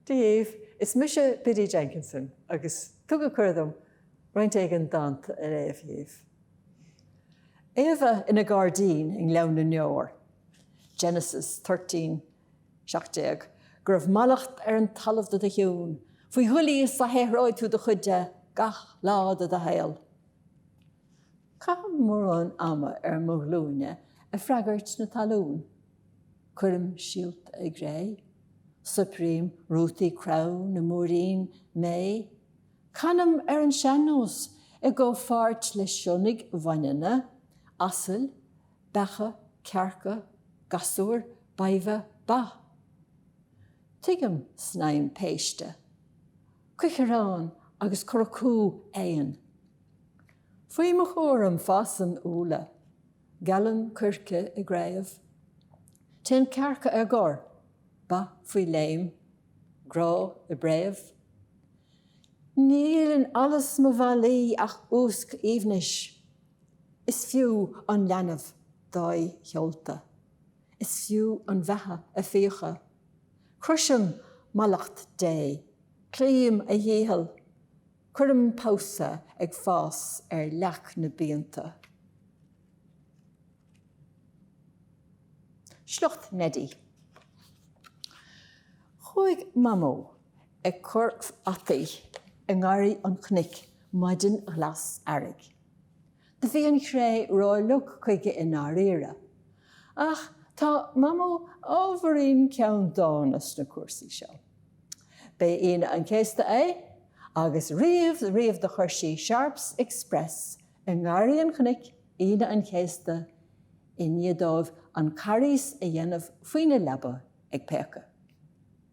Daoibh, is mise Biddy Jenkinson agus tugadh cuireadh dom roinnt éigin dánta a léamh dhíbh. Éabha ina gairdín i nGleann na nDeor, Genesis 13, 17, go raibh mallacht ar an talamh de do chionn, faoi dhoilíos a shaothróidh tú do chuid de, gach lá de do shaol. Caithim mórán ama ar mo ghlúine ag freagairt na talún. Cuirim síolta i gcré. Soiprím rútaí crann i múirín méith. Canaim ar an sean-nós i gcomhpháirt le sionnaigh bhaineanna, asail, beacha, cearca, gasúir, badhbha, ba. Tuigim snaidhm péiste, cuiceareán agus curacú éan. Faoi mo chúram fásann úlla, gealann coirce i gcraobh, téann cearca ar gor, ba faoi léim, grá i bpréamh. Níl in allas mo mhalaí ach úsc aoibhnis, is fiú an leanbh dua a sheolta, is fiú an bheatha a fiacha. Crosaim mallacht Dé, cloím a dhícheall. Cuirim pabhsa ag fás ar leac na bpianta. Sliocht Neidí. Chuaigh Mamó ag cur fhataí i ngarraí an chnoic maidin ghlas earraigh. Do bhí an chré rófhliuch chuige i ndáiríre. Ach tá Mamó ábhairín ceanndána sna cúrsaí seo. B'é Aoine an Chéasta é, agus riamh riamh do chuir sí Sharp's Express i nGarraí an Chnoic Aoine an Chéasta i ndiaidh dóibh an Carghas a dhéanamh faoina leaba ag péacadh.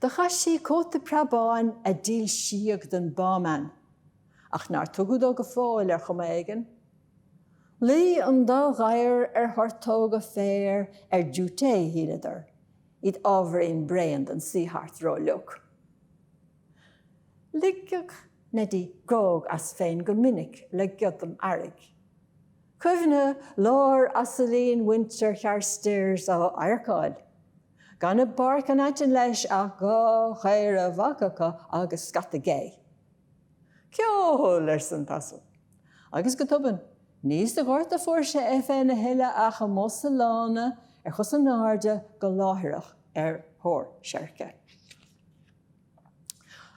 Do chaith sí cóta preabáin a dílsíodh don Bauman, ach nár tugadh dó go fóill ar chuma éigin. Luigh an dá ghadhar ar thortóga féir ar diúité, shíleadar, iad ábhairín bréan don suí thart rófhliuch. Ligeadh Neidí grág as féin go minic le giodam earraigh. Cuimhne láir asailín mhuintir Charstairs á adharcáil. Gan i bpáirc an aitinn leis ach dhá chaora bhacacha agus scata gé. Ceol! arsa an t-asal. Agus go tobann, ní sa ghort a fuair sé é féin a thuilleadh ach amuigh sa lána ar chos in airde go láithreach ar thóir seirce.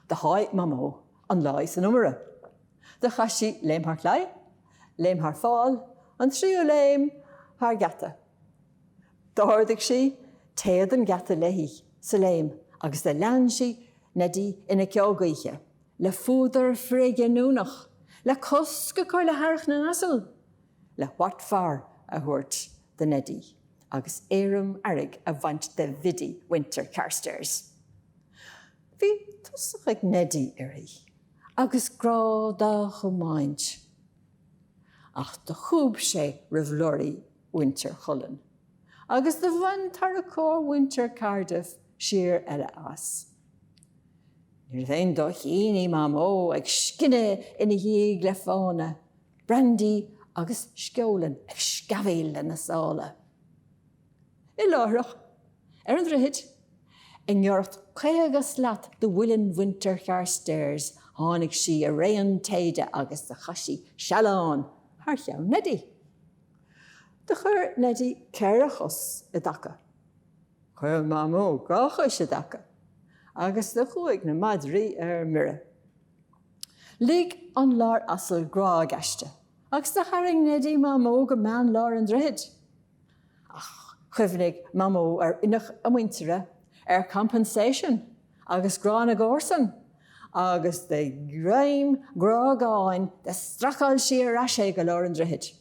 Do sháith Mamó an láí san iomaire. Do chaith sí léim thar claí, léim thar fál, an tríú léim thar geata. D'ardaigh sí téad an gheata léi sa léim agus do lean sí Neidí ina ceo gaoithe, le fuadar frithghiniúnach, le cosc a chur le hearrach na n-asal, le what for a thabhairt do Neidí agus éirim earraigh a bhaint de Bhiddy mhuintir Charstairs. Bhí tosach ag Neidí uirthi agus grá dá chomáint ach do chúb sé roimh leoraí. mhuintir Chulainn, agus do bhain tarracóir mhuintir Cardiff siar eile as. Níorbh aon dóichín í Mamó ag scinneadh ina dhiaidh le fána, Brandy agus Sceolaing ag sceamhaíl lena sála. I láithreach, ar an droichid, i ngiorracht caoga slat do mhuileann mhuintir Charstairs tháinig sí i raon téide agus do chaith sí sealán thar cheann Neidí. Do chuir Neidí ceithre chos i dtaca. Chuir Mamó dhá chois i dtaca agus do chuaigh na madraí ar mire. Lig an láir asail grág aisti agus do tharraing Neidí Mamó go meán lár an droichid. Ach chuimhnigh Mamó ar oineach a muintire, ar compensation. Agus grá na gcomharsan agus de ghreim grágáin do stracáil sí ar ais é go lár an droichid.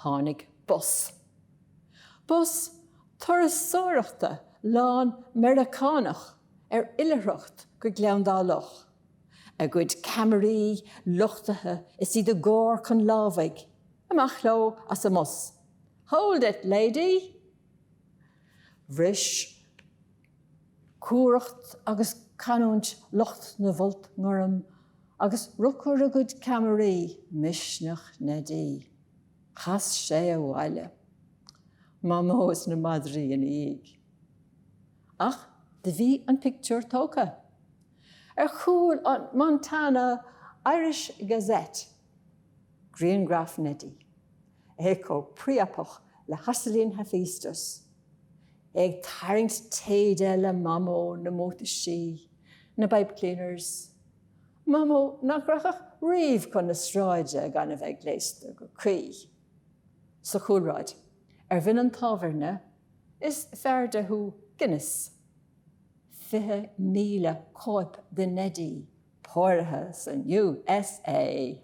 Tháinig bus. Bus turasóireachta lán Meiriceánach ar oilithreacht go Gleann Dá Loch, a gcuid ceamaraí luchtaithe is iad i gcóir chun lámhaigh. Amach leo as an mbus. Hold it, lady! Bhris. cumhracht agus canúint lucht na bhfolt ngorm agus ruchar a gcuid ceamaraí, misneach Neidí. Chas sé abhaile. Mamó is na madraí ina dhiaidh. Ach do bhí an pictiúr tógtha. Ar chúl an Montana Irish Gazette. Griangraf Neidí. É chomh priapach le hasailín Hephaestus. ag tarraingt téide le Mamó na mbútaisí, na pipe cleaners, Mamó nach rachadh riamh chun na sráide gan a bheith gléasta go cuí. Sa chúlráid, ar bhinn an tábhairne, is fearrde thú Guinness, 20,000 cóip de Neidí póraithe san U.S.A.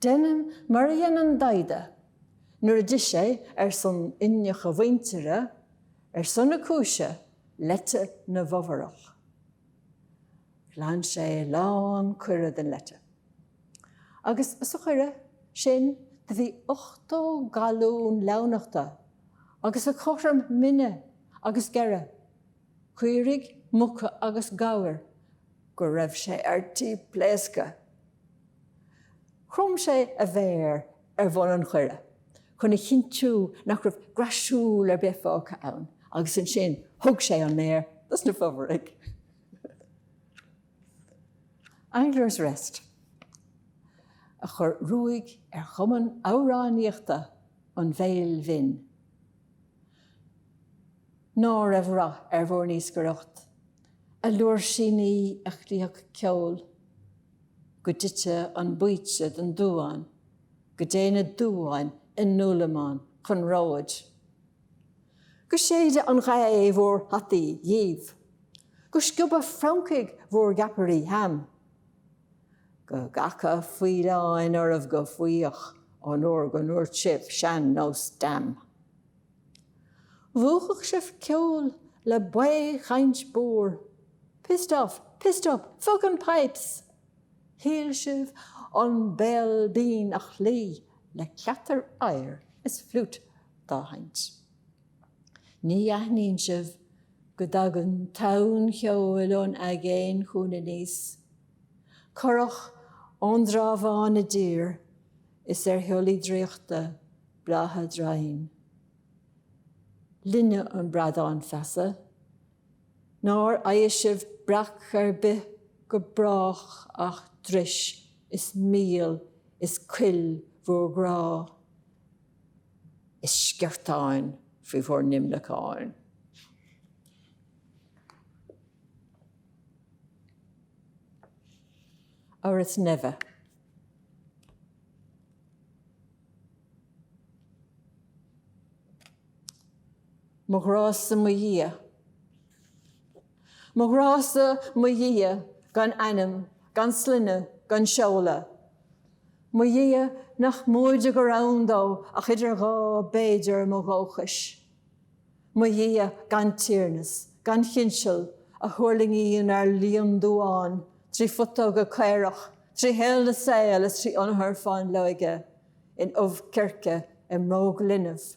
Deinim mar a dhein an Daghda nuair a d'ith sé, ar son oineach a mhuintire, ar son na cúise, leite na bhFomhórach. Ghlan sé lán coire den leite. Agus sa choire sin do bhí ochtó galún leamhnachta agus a cothrom mine agus geire. caoirigh, muca agus gabhair, go raibh sé ar tí pléascadh. Chrom sé a mhéar ar bhun an choire chun a chinntiú nach raibh graisúil ar bith fágtha ann agus ansin thug sé an méar dos na Fomhóraigh. Angler's Rest a chuir ruaig ar Chumann Amhránaíochta an Bhéil Bhinn. ná raibh rath ar bhur n-iascaireacht, a liúirsíní a chloífeadh ceol go dtite an baoite don duán go dté na duáin i ndúlamán chun róid. Go séide an ghaoth bhur hataí dhíbh, go scioba francaigh bhur gceapairí ham, Go gcaca faoileáin oraibh go fuíoch ón uair go ndúirt sibh sean-nós damn. Mhúchfadh sibh ceol le baoth-chaint búr pissed off, pissed up, fuckin' pipes! Shíl sibh an Béal Binn a chloí le cleatar oighir is flute dá sheinnt. Ní aithníonn sibh Go dtagann tonn cheoil ón aigéan chugainn aníos, curach ón dTrá Bháin i dtír, is ar shiollaí draíochta breátha draighin linne an Bradán Feasa, nár fhaighe sibh breac ar bith go brách ach dris is míol is cuil bhur gcrá. Is sceartáin faoi bhur n-imleacáin. Ar is neimhe. Mo ghrá-sa mo Dhia. Mo ghrá-sa, mo Dhia, gan ainm, gan sloinne, gan seoladh. Mo Dhia, nach móide gur ann dó ach idir dhá b'fhéidir mo dhóchais. Mo Dhia, gan tiarnas, gan chinseal, a thuirlingíonn ar líon damháin trí phutóga caorach, trí shaol na saol is trí ionathar fáinleoige in ubh circe i mbróg linbh.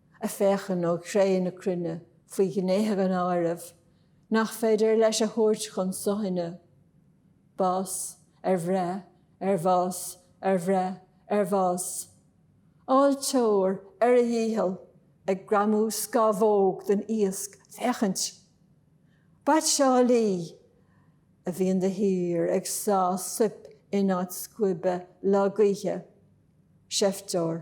a féachann ó chré na cruinne faoi ghnéithe gan áireamh nach féidir leis a thabhairt chun suthaine, bás ar bhreith ar bhás ar bhreith ar bhás, áilteoir ar a dhícheall ag greamú scamhóg den iasc féachaint, baitseálaí a bhíonn de shíor ag sá soip in áit scuaibe lá gaoithe, seifteoir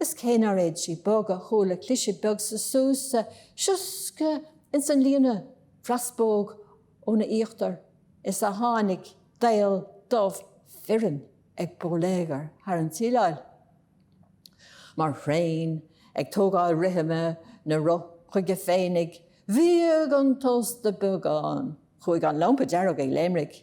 Is cé nár fhéad sí bogadh chuala cliseadh beag sa súsa, sioscadh ins an líne fras póg óna íochtar is a tháinig daol dubh fireann ag bóiléagar thar an tsíleáil mar thraein ag tógáil rithim na roth chuige féinig. Bhíog an tost beagán. Chuaigh an lampa dearg ag léimrigh.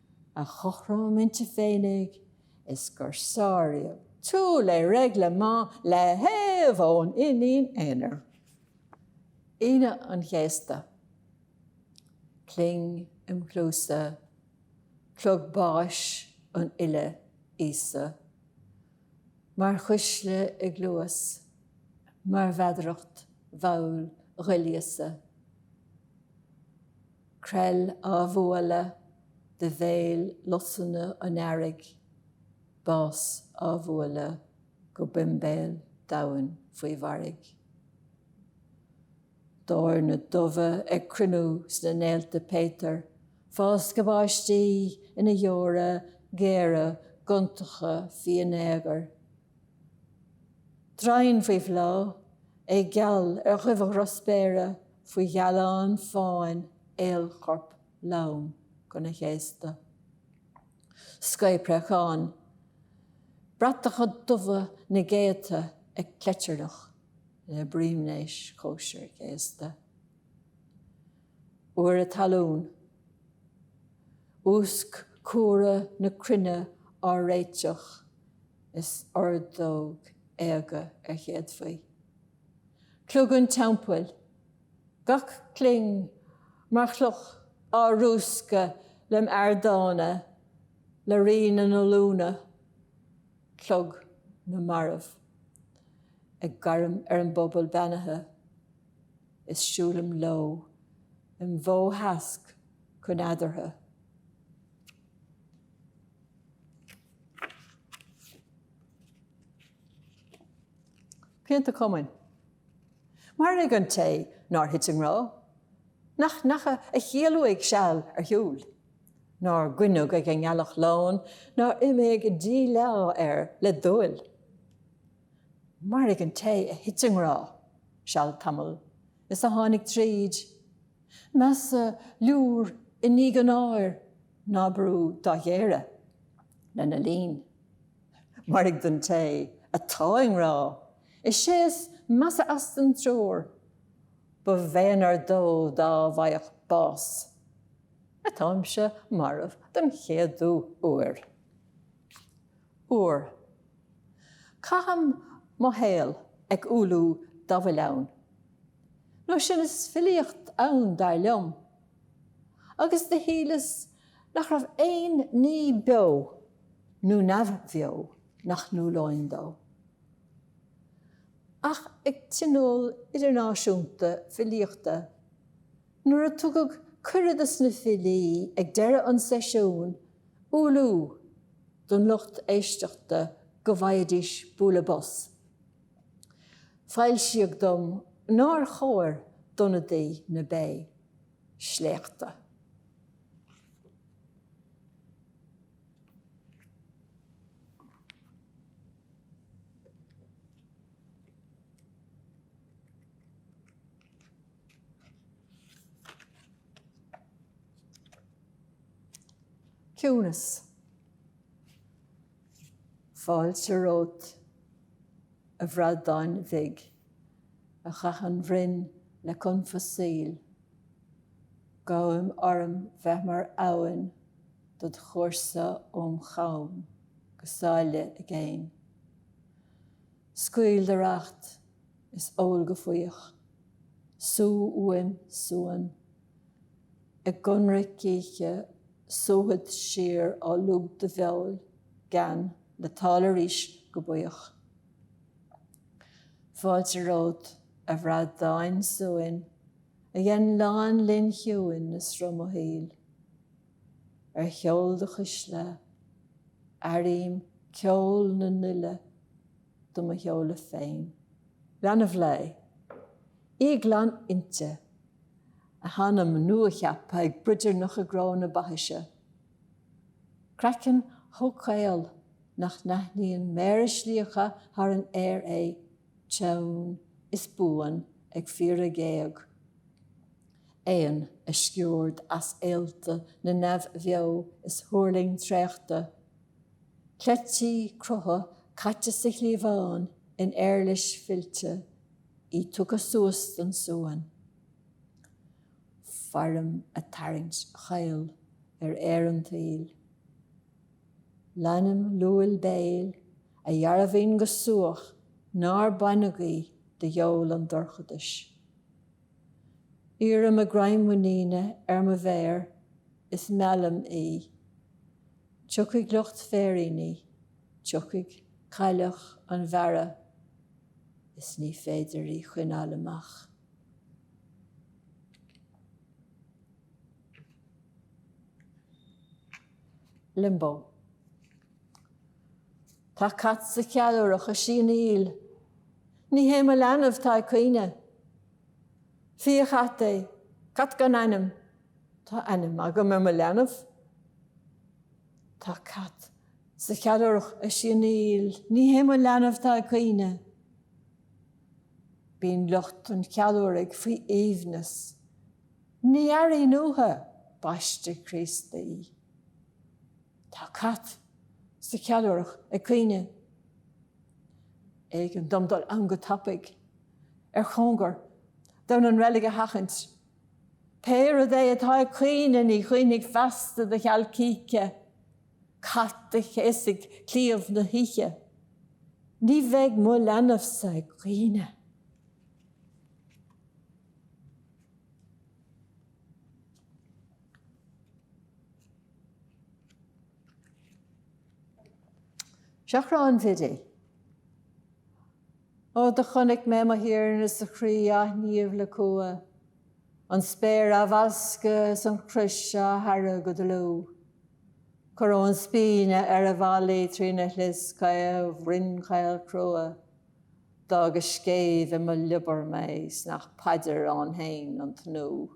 a chothrom inti féinig is gur sáraíodh tout le règlement le héamh ón iníon aonair, Aoine an Chéasta. Cling im chluasa, clog báis an fhile Íosa mar chuisle i gcluas, mar mheadaracht mhall dhoilíosa. Creill á bhualadh de bhéal lusanna an earraigh, bás á bhualadh go boimbéal domhain faoi mhairg. Doirne dubha ag cruinniú sna néalta péatair, fáscadh báistí ina dheora géara gontacha fínéagair. Draighean faoi bhláth, é geal ar dhuibhe dhrochspéire faoi ghealán fáin aolchorp lom gona chéasta. Scaoth préachán, bratacha dubha na gcéadta ag cleitearnach le broimnéis chóisir chéasta. Úire talún. Úsc cumhra na cruinne á réiteach is ordóg éaga ar chéadfaí. Clog an teampaill. Gach cling mar chloch á rúscadh le m'ardána le rí na n-ollúna. Clog na marbh ag gairm ar an bpobal beannaithe is siúlaim leo im bhó sheasc chun eadartha. Pianta cumainn. Mairg an té nár thit i ngrá, nach ndeacha a chiall uaidh seal ar shiúl, nár goineadh ag an ngealach lán, nár imigh díleá air le dúil. Mairg an té a thit i ngrá seal tamaill is a tháinig tríd. Measa liúr i ndiaidh an áir ná brú dá ghéire lena linn. Mairg don té atá i ngrá is é is measa as den triúr, ba mhéanar dó dá bhfaigheadh bás. Atáimse marbh den chéadú uair. Uair. Caithim mo shaol ag umhlú dá bhfuil ann. Nó sin is filíocht ann dar liom. Agus do shíleas nach raibh aon ní beo nó neamhbheo nach n-umhlóinn dó. Ach ag Tionól Idirnáisiúnta Filíochta, nuair a tugadh cuireadh dos na filí ag deireadh an seisiúin, Umhlú don lucht éisteachta go bhfaighidís bualadh bos. Foilsíodh dom nár chóir d'ionadaí na Bé sléachtadh. Ciúnas. Fáilte romhat, a bhradáin bhig, a chaith an bhroinn le confadh saoil. Gabhaim orm bheith mar abhainn dod chúrsa óm chom go sáile i gcéin. Scaoil do racht is ól go fuíoch. Súigh uaim suan. I gconradh cíche súfad siar ó lúb do bheoil gean le tál arís go buíoch. Fáilte romhat, a bhradáin suain, a dhein lánlinn chiúin i sruth mo shaoil. Ar sheol do chuisle, airím ceol na n-uile do mo sheoladh féin. Leanbh lae. Í glan innte. A hanam nua-cheaptha ag broidearnach i gcró na baithise. Craiceann chomh caol nach n-aithníonn méara slíoctha thar an aer é. Teann is buan ag fiaradh géag. Éan a sciúrd as ealta na neamh-bheo is thuirling traochta. Cleití crutha caite sa chliabhán in éarlais fillte, í tugtha suas don suan. Fairim a tarraingt chaol ar aer an tsaoil. Leanaim luail béil a dhearbhaíonn go subhach nár baineadh í de dheol an dorchadais. Iarraim a greim muiníne ar mo mhéar is meallaim í. Tiocfaidh lucht féiríní, tiocfaidh cailleach an bhearrtha is ní féidir í choinneáil amach. Limbo. Tá cat sa cheallúrach ag sianaíl. Ní hé mo leanbh tá ag caoineadh. Fiachat é, cat gan ainm. Tá ainm agam ar mo leanbh. Tá cat sa cheallúrach ag sianaíl. Ní hé mo leanbh tá ag caoineadh. Bíonn lucht an cheallúraigh faoi aoibhneas. Ní airíonn uathu baiste Críostaí. Tá cat sa cheallúrach ag caoineadh. B'éigean dom dul ann go tapaidh, ar chóngar, d'fhonn an reilig a sheachaint. Pé rud é atá ag caoineadh, ní chaoinfidh feasta de cheal cíche, cat a chéasfaidh cliabh na hoíche. Ní bheidh mo leanbhsa ag caoineadh. Seachrán Bhiddy. Ó, do chonaic mé mo Thiarna is a chroí á shníomh le cumha, an spéir á bhascadh is an chrois á haire go dlúth. Coróin spíne ar a mhalaí trína shlios caol rinn chaol chrua, d'fhág a scéimh i mo liobar mé 's nach paidir ann fhéin an tnúth.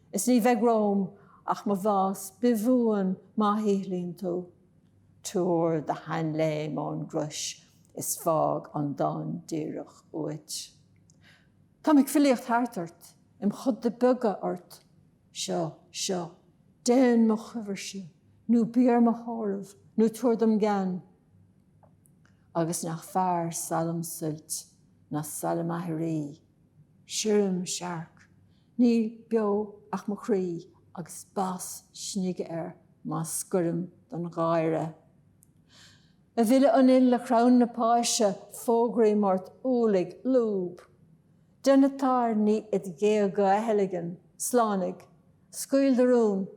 Is ní bheidh romham ach mo bhás bithbhuan má shíothlaíonn tú. Tabhair do sheanléim ón gcrois is fág an dán díreach uait. Táim ag filíocht thart ort, im choda beaga ort. Seo, seo, déan mo chabhairse, nó bí ar mo thórramh, nó tabhair dom gean. Agus nach fearr salm suilt ná salm aithrí? Sirim searc, Ní beo ach mo chroí agus bás snige air má scoirim don gháire. A bhile an fhill a chrann na páise fógraím ort umhlaigh, lúb. Déan na tairní id ghéaga a theilgean, slánaigh, scaoil do rún.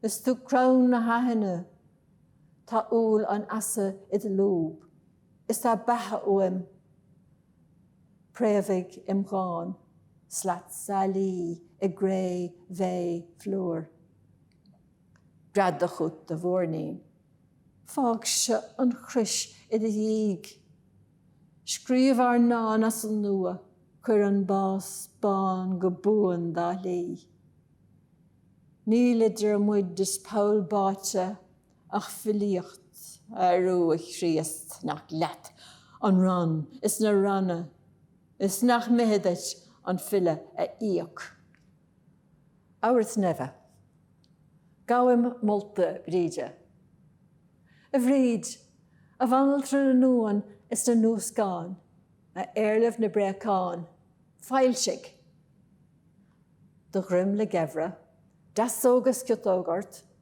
Is tú crann na haithne. Tá úll an fheasa id lúb. Is tá beatha uaim. préamhaigh im dhán, slat sailí i gcré mhéith phlúir. Gread, a chuid, a mhuirnín, fágse an chrois i do dhiaidh. Scríobh ár ndán as an nua, cuir an bás bán go buan dá shlí. Níl idir muid is poll báite Ach filíocht arú a Chríost nach leat an rann is na ranna is nach mithid duit an file a íoc. Abhairt neimhe. Gabhaim molta Bríde. A Bhríd, a bhanaltra na n-uan is na n-uascán, a éarlamh na bpréachán, foilsigh! Do dhroim le geimhreadh, deasóg is ciotóg ort,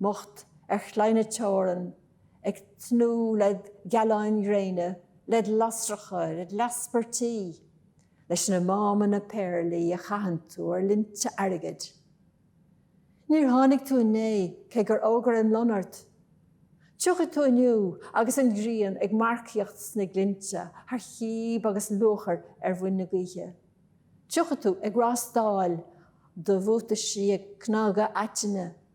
mbocht ar chlaí na teorann ag tnúth le gealáin ghréine, led lasracha, led leaspairtí, leis na mámanna péarlaí a chaitheann tú ar linnte airgid. Níor tháinig tú inné cé gur fhógair an lon ort. Tiocfaidh tú inniu agus an ghrian ag marcaíocht sna glinnte thar chíb agus luachair ar mhuin na gaoithe. Tiocfaidh tú ag rástáil do bhuataisí ag cnagadh aitinne